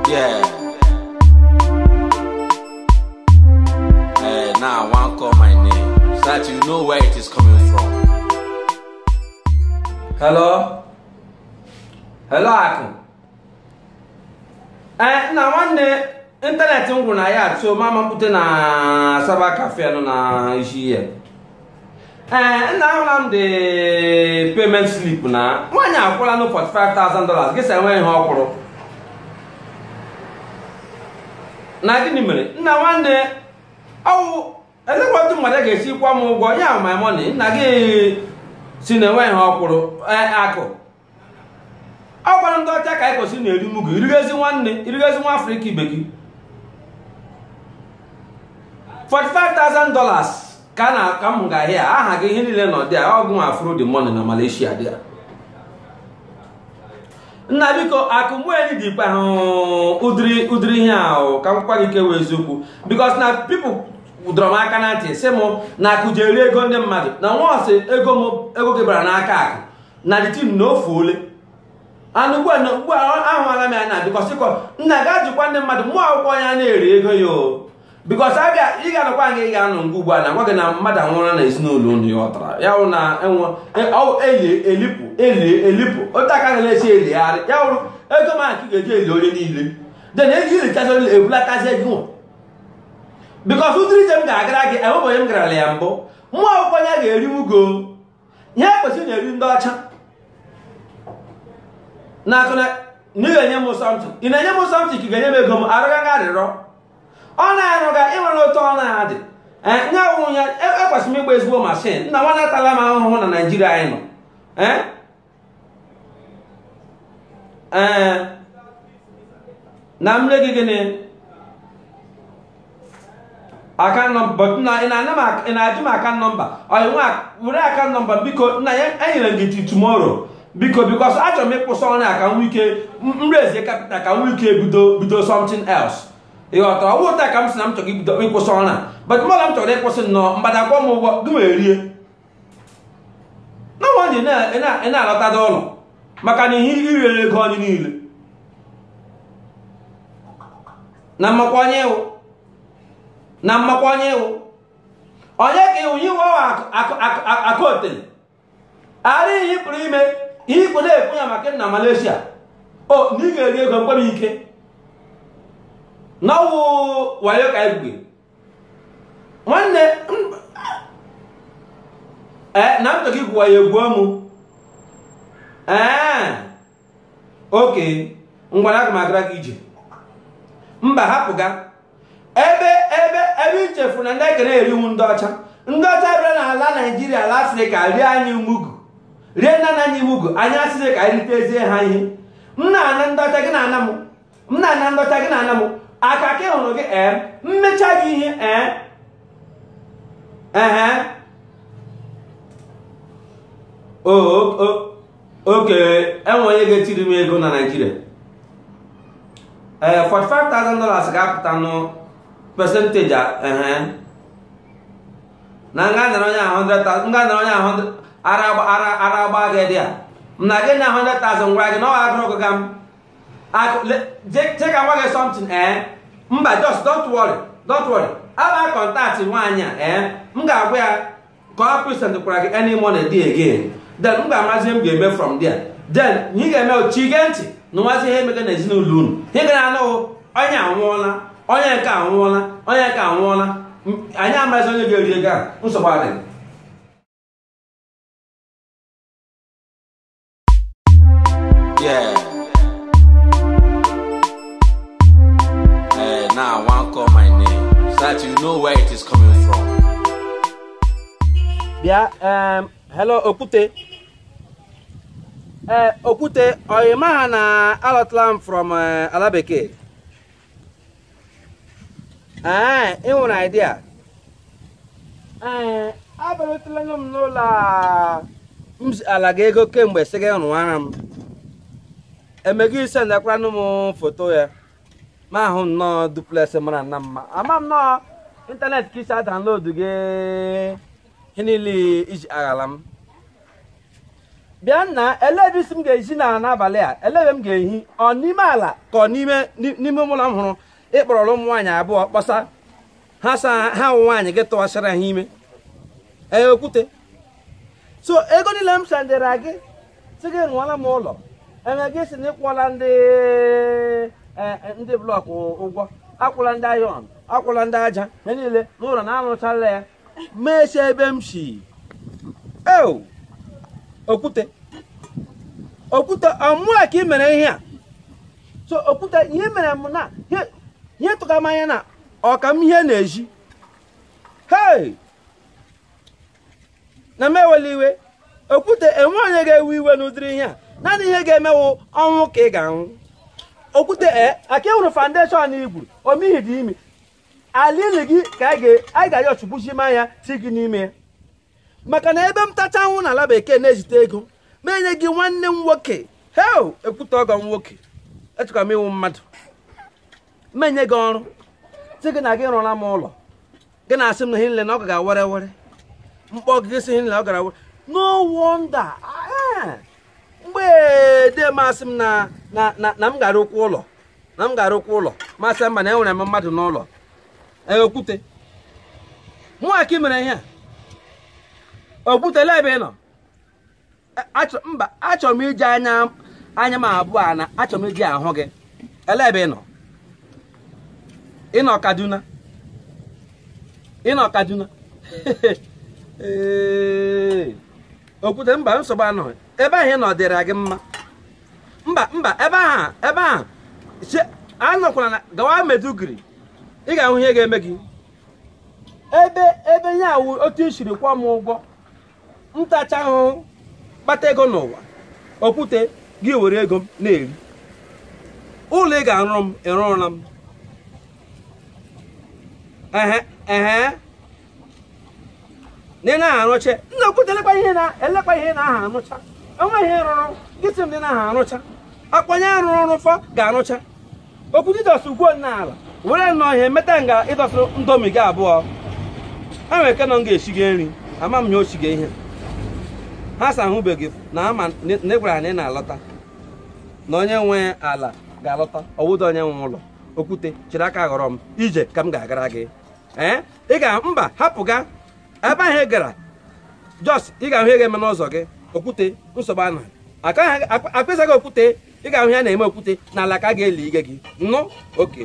Yeah. Hey, now I want to call my name so that you know where it is coming from. Hello? Hello, Akụ. Ee, nna nwanne ịntanetị m gwụrụ na ya so mụ amapụta na Cyber Cafe nọ na isi ihe. ee nna ahụla m the payment slip na nwaanyị akwụọla nụ 45,000 dollars gị asị enweghị ihe ọ kwụrụ na gịnị mere nna nwanne ọ wụ elekwa otu mmadụ ga-esi kwụa m ụgwọ ya my money nna gị sị na enweghị ihe ọ kwụrụ ee akụ ọ kwara ndị ọcha ka anyị kwesịrị na-eri mugu i rigezi nwanne i rigezi nwa afrịka ibe gị 45,000 dollars ka na ka m ga ahịa aha gị ihe niile nọ there ọ gịnwa afro the money na malaysia there nna biko akụmụeli dị ikpe ahụ ụdịrị ụdịrị ihe ahụ ka m gwa gị kewa eziokwu because na people dọrọ m aka na ntị sị m na akụ ji eri ego ndị mmadụ na once ego m ego gị bara n'aka akụ na the thing na o fuole nụ ugbu a na ugbu a ahụala m ya na because akụ nna gaa jụkwa ndị mmadụ mụ awụkwa onye a na-eri ego ya o because abịa ị ga-anọkwa nga ị ga-anọ ngwa ugbu a na gwa gị na mmadụ anwụrụ na ezinụlọ unu ị ghọtara ya wụ na enwe eli elipụ eli elipụ otu aka ga na-esi eligharị ya wụrụ ego m ka ị ga-eji eli onye niile then eji ilichazi onye ebulatazi ego nwa because ụdịrị ije m ga-agara gị enwebụ onye m garala ya mbụ mụ awụkwa onye a ga-eri mugu ihe e kwesịrị na-eri ndị ọcha nna akụ na ị ga-enye m something ị na-enye m something ka ị ga-enye m ego m arịọga gị arịrịọ ọ na-arụga ị nwere otu ọ na-adị nye awụ ya ekwesịrị m ịgba ezigbo mashin nna nwanne atala m ahụhụ na naijiria anyị nọ ee nna m mere gị gịnị account number na ị na-ajụ m account number ọyị nwa were account number biko nna ya enyere m gị till tomorrow biko because achọrọ m ịkwụsị ọrụ a ka m nwee ike m raise capital ka m nwee ike bido bido something else ị ghọtara ọ wụghị taa ka m sị na m chọrọ ibido ịkwụsị ọrụ a but mmadụ m chọrọ ịkwụsị nnọọ mgbada akwụọ m ụgwọ gị wee rie na nwaanyị na-alọtada ụlọ maka na ihe i riri ego anyị niile na m makwa onye ị wụ na m makwa onye ị wụ onye ka ị wụ iwe akụotele ara ihe pụrụ ime ihe ikpo na-ekwu ya maka na Malaysia o na ị ga-eri ego mkpere ike na ọ wụ wayo ka anyị gwugere nwanne ee na ntọ gị gwụwa ya egwu ọmụ ee okay ngwa aga m agara gị ije mba hapụga ebe ebe ebe i chefu na ndị ekere eri wụ ndị ọcha ndị ọcha bịara n'ala naijiria ala afrịka rie anyị mugu rie nna nna anyị mugu anyị asịrị ka anyị ritezie ha ihe m na-ana ndị ọcha gị na-ana m m na-ana ndị ọcha gị na-ana m aka ka ị hụrụ gị ee m mecha gị ihe ee ehe okay e nwe onye ga-etiri m ego na naijiria ee 45,000 dollars ga-apụta nụ percentage ehe na m ga-anara onye ahụ 100,000 m ga-anara onye ahụ ara agba gị dia m na gị na 100,000 ngwa gị na ọ agụrụ gị ga m chee ka m gwa gị something ee mba just don't worry don't worry I'll contact nwaanyị a ee m ga-agwa ya ka ọ present kwara gị any money dị again then m ga-amazi ihe m ga-eme from there then ihe ị ga-eme chi gee ntị nụwazie ihe emega na ezinụlọ unu ị ga na-anụ onye anwụọla onye nke anwụọla onye nke anwụọla anyị amarazi onye ga-eri ego a nsogbu adịghị Yeah. Hey, now I want call my name so that you know where it is coming from. bịa em, hello okwute ee okwute ọyị m aha na alọtala m from eh, ala bekee ee ị nwere idea ee abịarutela nụ m n'ụlọ a m ziala gị ego kemgbe sị gị rụwara m eme gị ị sendkwaranụ m foto ya mụ ahụ nnọọ duplex mara nna mma ama m na ọ internet ka i si adownload gị ihe niile i ji aghala m bịa nna elee ebe ị sị m ga-ehi n'abalị a elee ebe m ga-ehi ọ n'ime ala ka ọ n'ime ni- n'ime ụlọ m hụrụ ị kpọrọla ụmụ nwaanyị abụọ kpọsa ha sa ha ụmụ nwaanyị gị tụwasịra ha ime ee okwute so ego niile m sendere gị sị gị rụwara m ụlọ eme gị sị na ị kwụọla ndị eh, eh, ndị block ụgwọ akwụọla ndị iron akwụọla ndị aja ya niile na ụlọ na a rụchaala ya meche ebe m si eo okwute okwute ọ mụa ka ị mere ihe a so okwute ihe mere m na ihe- ihe tụka m anya na ọ ka m ihe na-eji hei na m ewela iwe okwute e nwe onye ga-ewe iwe n'ụdịrị ihe a naanị ihe ga-eme wụ ọnwụ ka ị ga-anwụ okwute e aka ị hụrụ foundation i gwuru omihi dị ime alili gị ka anyị ga-ayọ ọchụgbuchi ma ya ti gị n'ime ya maka na ebe m tacha anwụ n'ala bekee na-ezite ego m enye gị nwanne m nwoke hei okwute ọgọ m nwoke echekwa m ị wụ mmadụ m enye gị ọrụ sị gị na gị rụọla m ụlọ gị na-asị m na ihe nile na ọ gara were were m kpọọ gị sị ihe nile ọ gara were no wonder ah, eh. mgbe dee m asị m na na na na m ga-arụkwa ụlọ na m ga-arụkwa ụlọ m asị mba na enwere m mmadụ n'ụlọ ee okwute mụnwa ka ị mere ihe a okwute ele ebe ị nọ A- achọ- mba achọrọ m iji anya anya m abụọ a na achọrọ m iji ahụ gị ele ebe ị nọ ị nọ kaduna ị nọ kaduna Ee. okwute mba nsogbu anọghị ebe ahụ ị nọ dịrị gị mma mba mba ebe ahụ ebe ahụ che- anọkwala na gawa maiduguri ị ga-ahụ ihe ga-eme gị ebe ebe ya wụ otu i siri kwụọ m ụgwọ m tachaa ahụhụ kpata ego n'ụwa okwute gị ewere ego m na-eri ụlọ ị ga-arụrụ m ị rụrụla m ehe ehe na ị naghị arụcha nna okwute elekwa ihe na elekwa ihe naha arụcha enweghị ihe ị rụrụ gị sị m na ị naha arụcha ọ kwa onye rụrụ rụfọ ga-arụcha okwute ị dọsụ ugwo n'ala were nnọọ ihe meta nga ị dọsụ ndomi gị abụọ ha nwere ike nọ nga esiga nri ama m ya o siga ihe ha sa ahụbeghị n'ama na ị gwara ha na ị na-alọta na onye nwe ala ga-alọta ọ wụ da onye nwe ụlọ okwute chịrị aka ghọrọ m ije ka m ga-agara gị ee ị ga mba hapụga ebe ahụ ị gara jos ị ga-ahụ ihe ga-eme n'ụzọ gị okwute nsogbu anọghị akpịsaghị okwute ị ga-ahụ ihe a na-eme okwute n'ala ka a ga-eli ige gị nụ oke